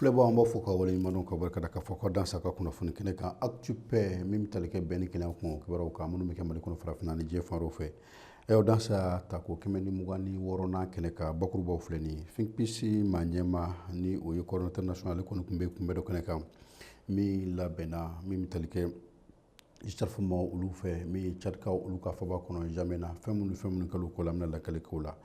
filɛbaaw an b'aw fo ka waleɲumandɔn ka barikada k'aw fo k'aw dansɛ aw ka kunnafoni kɛnɛ kan Actu Paix min bɛ tali kɛ bɛn ni kelenya kun kibaruyaw kan minnu bɛ kɛ mali kɔnɔ farafinna ni diɲɛ fan dɔw fɛ ayiwa dansɛ a tako kɛmɛ ni mugan ni wɔɔrɔnan kɛnɛ kan bakurubaw filɛ nin ye Think Peace maa ɲɛmaa ni o ye coordonnateur national kɔni tun bɛ kunbɛn dɔ kɛnɛ kan min labɛnna min bɛ tali kɛ GCERF maaw olu fɛ min ye cadikaw olu ka faaba kɔnɔ jamɛna fɛn minnu fɛn minnu kɛla o ko la an bɛna lakali kɛ o la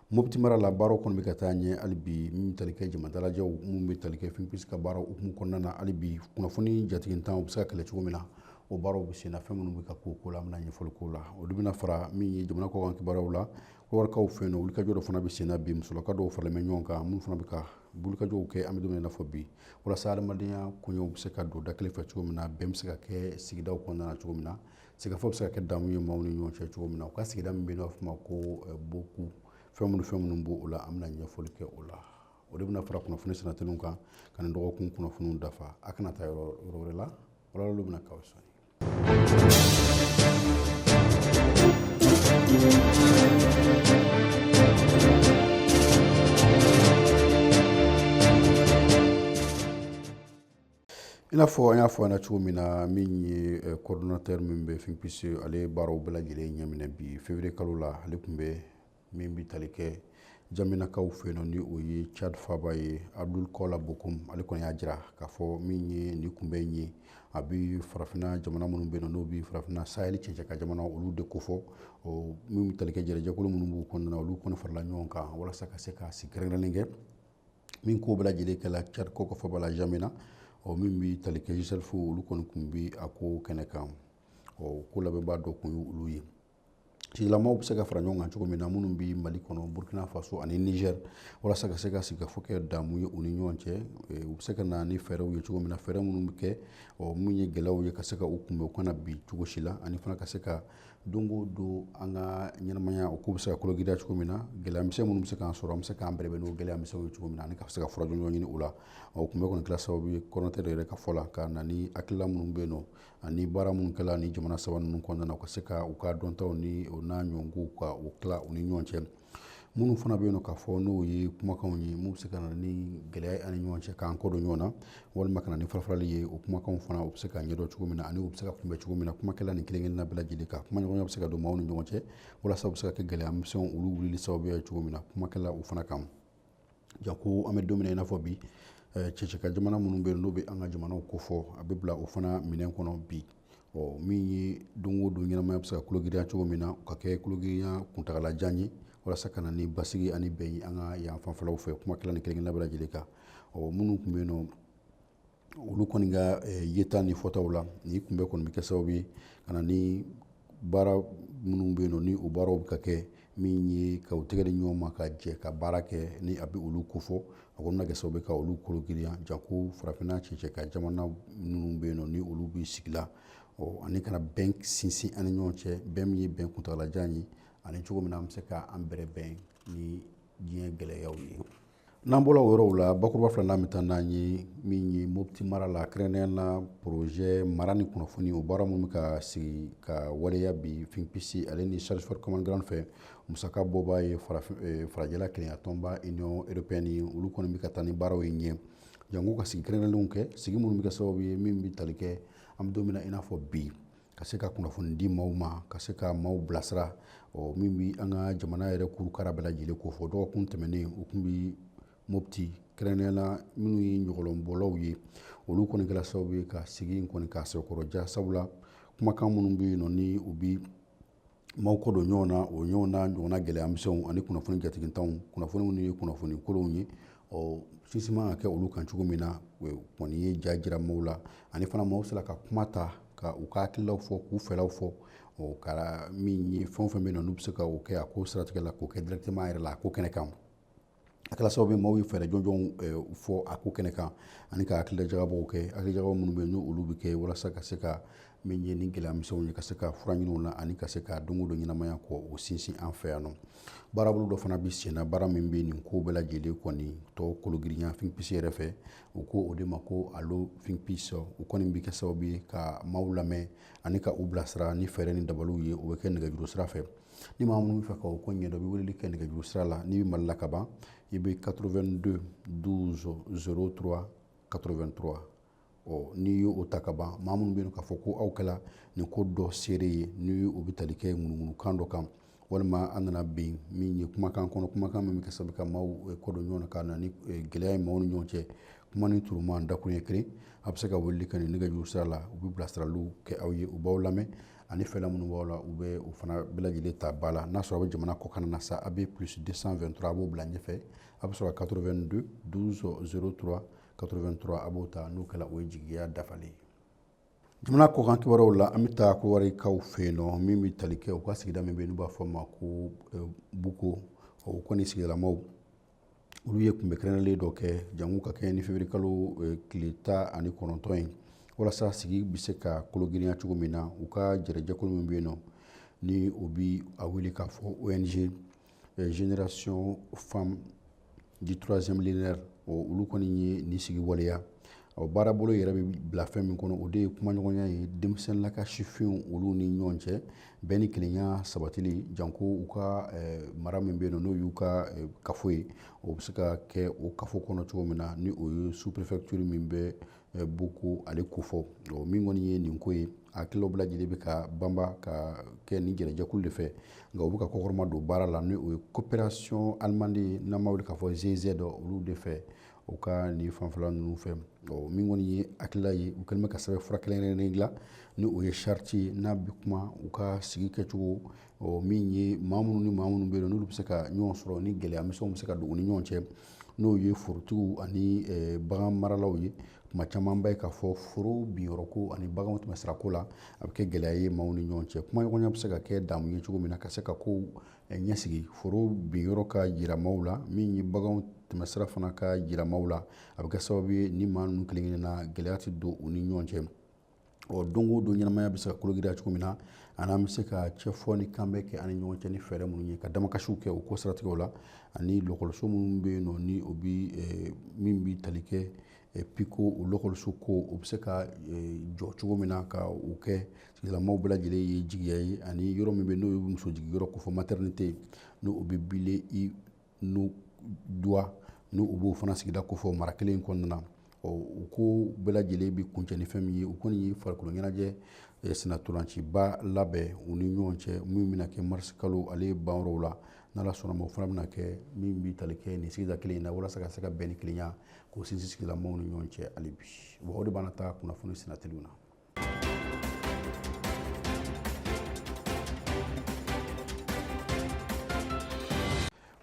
moti mara la baaraw kɔni bɛ ka taa ɲɛ hali bi min tali kɛ jamadalajɛw minnu bɛ tali kɛ fɛn bɛ se ka baara hukumu kɔnɔna na hali bi kunnafoni jatigitanw bɛ se ka kɛlɛ cogo min na o baaraw bɛ senna fɛn minnu bɛ ka kɛ o ko la an bɛna ɲɛfɔli kɛ o la olu bɛna fara min ye jamana kɔkan kibaruw la wari fɛ yen olu ka jɔ fana bɛ senna bi musokulu dɔw fana bɛ ɲɔgɔn kan minnu fana bɛ ka bulukajɔw kɛ an bɛ don fɔ bi walasa adamadenya koɲɛw bɛ se ka don da kelen fɛ cogo min na bɛn bɛ se ka kɛ sigidaw kɔnɔna na cogo min na sigikafɔ bɛ se ka kɛ damu ye maaw ni ɲɔgɔn cɛ cogo min na u ka sigida min bɛ yen n'a bɛ fɔ a ma ko boku fɛn minnu fɛn minnu b'o o la an bɛna ɲɛfɔli kɛ o la o de bɛna fara kunnafoni sinatilenw kan ka nin dɔgɔkun kunnafoniw dafa aw kana taa yɔrɔ wɛrɛ la walawalali bɛna kɛ sɔɔni I n'a fɔ an y'a fɔ an na cogo min na min ye eh, coordonnateur min bɛ Think Peace ale ye baaraw bɛɛ lajɛlen ɲɛminɛ bi février kalo la ale tun bɛ min bɛ tali kɛ jamɛnakaw fɛ yen ni o ye cadi faaba ye abudul kɔla bokum ale kɔni y'a jira k'a fɔ min ye ni kunbɛn in ye a bɛ farafinna jamana minnu bɛ n'o bɛ farafinna sahili cɛncɛn kan jamana olu de kofɔ min tali kɛ jɛkulu minnu b'u kɔnɔna olu kɔni farala ɲɔgɔn kan walasa ka se ka sigi kɛrɛnkɛrɛnnen kɛ min ko bɛ lajɛlen kɛla cadikaw ka faaba la jamɛna ɔ min bɛ tali kɛ GCERF olu kɔni tun bɛ a ko kɛnɛ kan ɔ ko labɛnbaa dɔ tun ye olu ye sigilamaw bɛ se ka fara ɲɔgɔn kan cogo min na minnu bɛ mali kɔnɔ burkina faso ani niger walasa ka se ka sigikafɔ kɛ damu ye u ni ɲɔgɔn cɛ u bɛ se ka na ni fɛɛrɛw ye cogo min na fɛɛrɛ minnu bɛ kɛ ɔ minnu ye gɛlɛyaw ye ka se ka u kunbɛn u kana bi cogo si la ani fana ka se ka don o don an ka ɲɛnamaya o k'u bɛ se ka kologirinya cogo min na gɛlɛyamisɛn minnu bɛ se k'an sɔrɔ an bɛ se k'an bɛrɛbɛn n'o gɛlɛyamisɛnw ye cogo min na ani ka se ka furaɲɔgɔn ɲini u la o kunbɛn kɔni kɛla sababu ye coordonnateur yɛrɛ ka fɔ la ka na ni hakilila minnu bɛ yen nɔ ani baara minnu kɛla nin jamana saba ninnu kɔnɔna na u ka se ka u ka dɔntaw ni o n'a ɲɔgɔnkow ka u tila u ni ɲɔgɔn cɛ minnu fana bɛ yen nɔ k'a fɔ n'o ye kumakanw ye minnu bɛ se ka na ni gɛlɛya ye an ni ɲɔgɔn cɛ k'an kɔ don ɲɔgɔn na walima ka na ni farafarali ye o kumakanw fana u bɛ se ka ɲɛdɔn cogo min na ani u bɛ se ka kunbɛn cogo min na kuma kɛla nin kelen kelenna bɛɛ lajɛlen kan kumaɲɔgɔnya bɛ se ka don maaw ni ɲɔgɔn cɛ walasa u bɛ se ka kɛ gɛlɛya misɛnw olu wulili sababuya ye cogo min na kuma kɛla u fana kan janko an bɛ don min na i n'a fɔ bi cɛncɛn kan jamana minnu bɛ yen nɔ n'o bɛ an ka jamanaw kofɔ a bɛ bila o fana minɛn kɔnɔ bi ɔ min ye don o don ɲɛnamaya bɛ se ka kulogirinya cogo min na ka kɛ kulogirinya kuntaalajan ye walasa ka na ni basigi ani bɛn an ka yan fanfɛlaw fɛ kumakɛla ni kelen kelen na bɛɛ lajɛlen kan ɔ minnu tun bɛ yen nɔ olu kɔni ka yeta ni fɔtaw la nin kunbɛn kɔni bɛ kɛ sababu ye ka na ni baara minnu bɛ yen nɔ ni o baaraw bɛ ka kɛ min ye ka u tɛgɛ di ɲɔgɔn ma ka jɛ ka baara kɛ ni a bɛ olu kofɔ a kɔni bɛ kɛ sababu ka olu kologirinya janko farafinna cɛncɛn kan jamana minnu bɛ yen nɔ ni olu bɛ sigi la ɔ ani ka na bɛn sinsin ani ɲɔgɔn cɛ bɛn min ye bɛn kuntaalajan ye ani cogo min na an bɛ se k'an bɛrɛ bɛn ni diɲɛ gɛlɛyaw ye n'an bɔra o yɔrɔw la bakuruba filanan bɛ taa n'an ye min ye mopti mara la kɛrɛnnenya na porozɛ mara ni kunnafoni o baara minnu bɛ ka sigi ka waleya bi think peace ale ni search for common ground fɛ musaka bɔba ye farajɛla kelenyatɔnba union européenne ye olu kɔni bɛ ka taa ni baaraw ye ɲɛ janko ka sigi kɛrɛnnenw kɛ sigi minnu bɛ kɛ sababu ye min bɛ tali kɛ an bɛ don min na i n'a fɔ bi ka se ka kunnafoni di maaw ma ka se ka maaw bilasira ɔ min bi an ka jamana yɛrɛ kurukara bɛɛ lajɛlen kofɔ dɔgɔkun tɛmɛnen u tun bi mopti kɛrɛnnenya la minnu ye ɲɔgɔlɔnbɔlaw ye olu kɔni kɛra sababu ye ka sigi in kɔni k'a sɛkɔrɔja sabula kumakan minnu bɛ yen nɔ ni u bi maaw kɔ don ɲɔgɔn na o ɲɔgɔn na ɲɔgɔnna gɛlɛyamisɛnw ani kunnafoni jatigintanw kunnafoni minnu ye kunnafoni kolonw ye ɔ sinsin man ka kɛ olu kan cogo min na kɔni ye ja jira maaw la ani fana maaw sera ka kuma ta ka u ka hakililaw fɔ k'u fɛlaw fɔ o kɛra min ye fɛn o fɛn bɛ na n'u bɛ se ka o kɛ a ko siratigɛ la k'o kɛ directement a yɛrɛ la a ko kɛnɛ kan a kɛra sababu maaw ye fɛɛrɛ jɔnjɔnw fɔ a ko kɛnɛ kan ani ka hakilijakabɔw kɛ hakilijakabɔ minnu bɛ yen nɔ olu bɛ kɛ walasa ka se ka min ye ni gɛlɛyamisɛnw ye ka se ka fura ɲini u na ani ka se ka don o don ɲɛnamaya k'o sinsin an fɛ yan nɔ baarabolo dɔ fana bɛ senna baara min bɛ nin ko bɛɛ lajɛlen kɔni tɔ kologirinya think peace yɛrɛ fɛ u ko o de ma ko alo think peace u kɔni bɛ kɛ sababu ye ka maaw lamɛn ani ka u bilasira ni fɛɛrɛ ni dabaliw ye o bɛ kɛ nɛgɛjuru sira fɛ ni maa minnu bɛ fɛ ka o ko ɲɛdɔn i bɛ weleli kɛ nɛgɛjuru sira la n'i bɛ mali la ka ban i bɛ 82 12 03 83 ɔ n'i ye o ta ka ban maa minnu bɛ yen k'a fɔ ko aw kɛla nin ko dɔ seere ye ni o bɛ tali kɛ ŋunuŋunukan dɔ kan walima an nana bin min ye kumakan kɔnɔ kumakan min bɛ kɛ sababu ka maaw eh, kɔ don ɲɔgɔn na ka na ni eh, gɛlɛya ye maaw ni ɲɔgɔn cɛ kuma ni turuman dakun ye kelen a bɛ se ka weleli kɛ nin nɛgɛjuru sira la u bɛ bilasiraliw kɛ aw ye u b'aw lamɛn ani fɛla minnu b'aw la u bɛ u fana bɛɛ lajɛlen ta ba la n'a sɔrɔ a bɛ jamana kɔkan na sa a bɛ plus 223 a b'o bila ɲɛfɛ a bɛ sɔrɔ 82 12 03 83 a b'o ta n'o kɛra o ye jigiya dafalen ye jamana kɔkan kibaruyaw la an bɛ taa kowarikaw fɛ yen nɔ min bɛ tali kɛ u ka sigida min bɛ yen n'u b'a fɔ ma ko eh, buko o kɔni sigidalamaw olu ye kunbɛn kɛrɛnlen dɔ kɛ janko ka kɛɲɛ ni février kalo eh, tile tan ani kɔnɔntɔn ye walasa sigi bɛ se ka kolo girinya cogo min na u ka jɛrɛjɛkulu min bɛ yen nɔ ni o bi a wele k'a fɔ ong eh, génération femme du troisième millénaire olu kɔni ye nin sigi waleya Ɔ baarabolo yɛrɛ bɛ bila fɛn min kɔnɔ o de ye kumaɲɔgɔnya ye denmisɛnninla ka sifinw olu ni ɲɔgɔn cɛ bɛn ni kelenya sabatili janko u ka mara min bɛ yen n'o y'u ka kafo ye o bɛ se ka kɛ o kafo kɔnɔ cogo min na ni o ye sous-préfecture min bɛ booko ale kofɔ o min kɔni ye nin ko ye a ko bɛɛ lajɛlen bɛ ka banba ka kɛ ni jɛrɛjɛkulu de fɛ nka u bɛ ka kɔkɔrɔma don baara la ni o ye coopération allemande n'an b'a wele k'a fɔ giz olu de fɛ u ka nin fanfɛla ninnu fɛ ɔ min kɔni ye hakilila ye u kɛlen bɛ ka sɛbɛn fura kɛrɛnkɛrɛnnen dilan ni o ye sariti ye n'a bɛ kuma u ka sigi kɛcogo ɔ min ye maa minnu ni maa minnu bɛ yen n'olu bɛ se ka ɲɔgɔn sɔrɔ ni gɛlɛya misɛnw bɛ se ka don u ni ɲɔgɔn cɛ n'o ye forotigiw ani eh, bagan maralaw ye tuma caman ba ye k'a fɔ foro binyɔrɔko ani baganw tɛmɛsirako la a bɛ kɛ gɛlɛya ye maaw ni ɲɔgɔn cɛ kumaɲɔgɔnya bɛ se ka kɛ damu ye cogo min na ka se ka kow ɲɛsigi foro bin yɔrɔ ka jira maaw la min ye baganw tɛmɛsira fana ka jira maaw la a bɛ kɛ sababu ye ni maa ninnu kelen kelen na gɛlɛya tɛ don u ni ɲɔgɔn cɛ ɔ don o don ɲɛnamaya bɛ se ka kologirinya cogo min na ani an bɛ se ka cɛfɔ ni kanbɛn kɛ an ni ɲɔgɔn cɛ ni fɛɛrɛ minnu ye ka damakasiw kɛ o ko siratigɛw la ani lakɔliso minnu bɛ yen nɔ ni o bɛ min bɛ tali kɛ pi ko o lakɔliso ko o bɛ se ka eh, jɔ cogo min na ka o kɛ sigidalamaaw bɛɛ lajɛlen ye jigiya ye ani yɔrɔ min bɛ n'o ye muso jigin yɔrɔ kofɔ maternité n'o o bɛ bile i n'o duwa n'o o b'o fana sigida kofɔ mara kelen in kɔnɔna na ɔ u ko bɛɛ lajɛlen bɛ kuncɛ ni fɛn min ye u kɔni ye farikolo ɲɛnajɛ eh, sennantolanciba labɛn u ni ɲɔgɔn cɛ min bɛna kɛ marisi kalo ale ban yɔrɔw la n'ala sɔnna ma o fana bɛna kɛ min bɛ tali kɛ nin sigida kelen in na walasa ka se ka bɛn ni kelenya k'o sinsin sigilamaaw ni ɲɔgɔn cɛ hali bi wa o de b'an ta kunnafoni sinatiliw na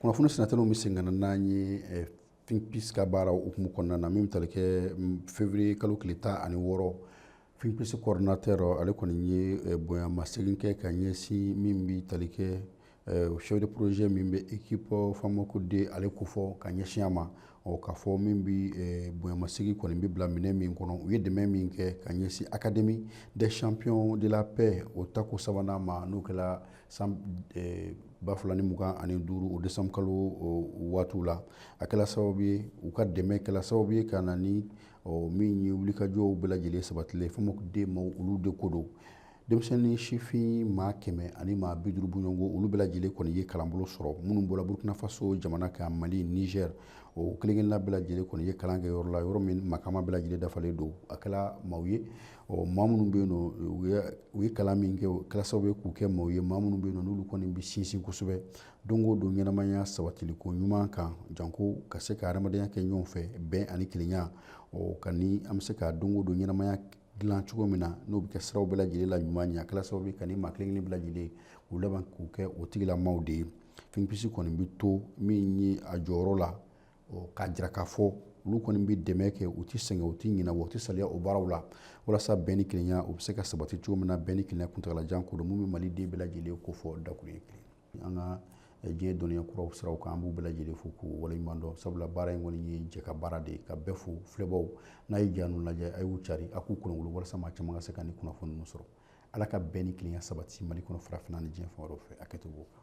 kunnafoni sinatiliw bɛ se ka na n'an ye eh, think peace ka baara hukumu kɔnɔna na min bɛ tali kɛ mm, février kalo tile tan ani wɔɔrɔ think peace coordinateur ale kɔni ye eh, bonya masegin kɛ ka ɲɛsin min bɛ tali kɛ eh, chef de projet min bɛ équipe bamako de ale kofɔ ka ɲɛsin a ma ɔ k'a fɔ min bɛ eh, bonyamasegin kɔni bɛ bila minɛ min kɔnɔ u ye dɛmɛ min kɛ ka ɲɛsin académie des champions de la paix o tako sabanan ma n'o kɛra san ba fila ni mugan ani duuru o desanbu kalo waatiw la a kɛra sababu ye u ka dɛmɛ kɛra sababu ye ka na ni ɔ min ye wulikajɔw bɛɛ lajɛlen sabatilen fɛn min den ma olu de ko don denmisɛnnin sifin maa kɛmɛ ani maa bi duuru bɔɲɔgɔnko olu bɛɛ lajɛlen kɔni ye kalanbolo sɔrɔ minnu bɔra burkina faso jamana kan mali niger o kelenkelenna bɛɛ lajɛlen kɔni ye kalan kɛ yɔrɔ la yɔrɔ min makama bɛɛ lajɛlen dafalen don a kɛla maaw ye ɔ maa minnu bɛ yen nɔ u ye kalan min kɛ o kɛla sababu ye k'u kɛ maaw ye maa minnu bɛ yen nɔ n'olu kɔni bɛ sinsin kosɛbɛ don o don ɲɛnamaya sabatiliko ɲuman kan janko ka se ka adamadenya kɛ ɲɔgɔn fɛ bɛn ani kelenya kan ni an bɛ se ka don o don ɲɛnamaya dilan cogo min na n'o bɛ kɛ siraw bɛɛ lajɛlen la ɲuman ɲɛ kala sababu ka ni maa kelen kelen bɛɛ lajɛlen u laban k'u kɛ o tigilamaw de ye think peace kɔni bɛ to min ye a jɔyɔrɔ la k'a jira k'a fɔ olu kɔni bɛ dɛmɛ kɛ u tɛ sɛgɛn u tɛ ɲinɛ wa u tɛ salaya o baaraw la walasa bɛn ni kelenya u bɛ se ka sabati cogo min na bɛn ni kelenya kuntagalajan ko don min bɛ maliden bɛɛ lajɛlen kofɔ dakurunɲɛ kelen an ka diɲɛ dɔnniya kuraw siraw kan an b'u bɛɛ lajɛlen fo k'u waleɲuman dɔn sabula baara in kɔni ye jɛ ka baara de ye ka bɛɛ fo filɛbaaw n'a ye ja ninnu lajɛ a y'u cari a k'u kolonkolon walasa maa caman ka se ka nin kunnafoni ninnu sɔrɔ ala ka bɛn ni kelenya sabati mali kɔnɔ farafinna ni diɲɛ fan tɔw fɛ a kɛto b'o kan